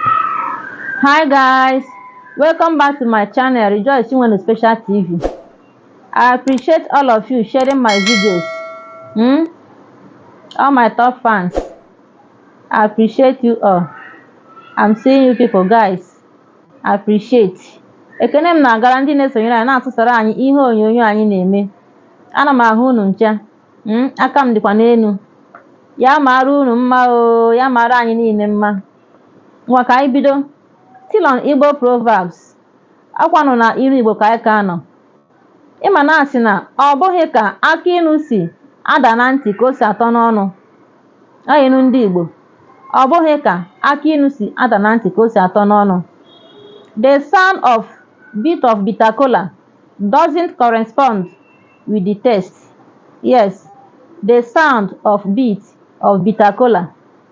hi guys welcome back to my channel rejoice chinwendu special tv i appreciate all of you sharing my videos hmm? all my top fans i appreciate you all i'm seeing you people guys i appreciate ekene m na-agara ndị na-esonyere anyị na-atụsara anyị ihe onyonyo anyị na-eme ana m ahụ unu ncha hmm? aka m dịkwa n'elu ya mara unu mma o ya mara anyị niile mma Ngwa ka anyị bido. Still on Igbo Proverbs. Akwanụ na ilu Igbo ka anyị ka nọ. Ị ma na a sị na ọ bụghị ka akị inu si ada na ntị ka o si atọ n'ọnụ. Ọ ilu ndị Igbo. Ọ bụghị ka akị inu si ada na ntị ka o si atọ n'ọnụ. The sound of bite of bitter kola doesn't correspond with the taste. Yes, the sound of bite of bitter kola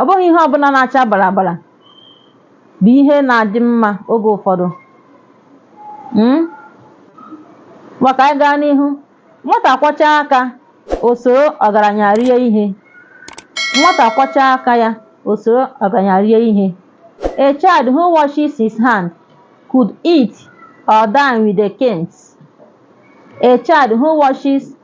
ọ bụghị ihe ọbụla na-acha bara bara bụ ihe na-adị mma oge ụfọdụ Mm? ngwa ka anyị gaa n'ihu nwata kwọchaa aka o soro ọgaranya rie ihe nwata kwọchaa aka ya o soro ọgaranya rie ihe a child who washes his hand could eat or dine with the kings a child who washes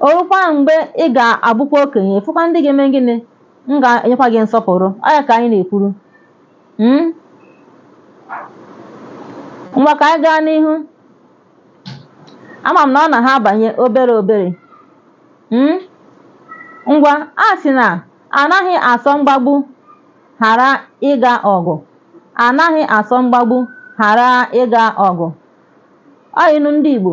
O rukwaa mgbe ị ga-abụkwa okenye, fụkwa ndị ga-eme gịnị? Ndị ga-enyekwa gị nsọpụrụ. Ọ ya ka anyị na-ekwuru. Hmm? Ngwa ka anyị gaa n'ihu. Ama m na ọ na ha abanye obere obere. Hmm? Ngwa, a sị na anaghị asọ mgbagbu ghara ịga ọgụ. Anaghị asọ mgbagbu ghara ịga ọgụ. Ọ ilu ndị Igbo.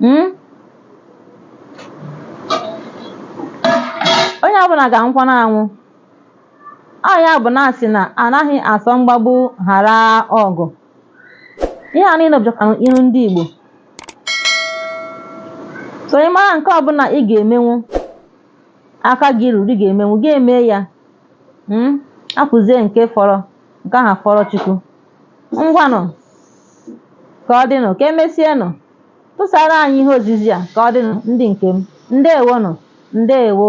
Hmm? onye ọbụla ga-anwụkwanụ anwụ ọ ya bụ na a sị na anaghị asọ mgbagbu ghara ọgụ ihe a niile bụchakwa ilu ndị Igbo so ị mara nke ọbụla ị ga-emenwu aka gị ruru ị ga-emenwu gị eme ya hmm? hapụzie nke fọrọ nke ahụ fọrọ Chukwu ngwanụ ka ọ dịnụ ka emesienụ tụsara anyị ihe ozizi a ka ọ dịnụ ndị nke m ndewonụ ndewo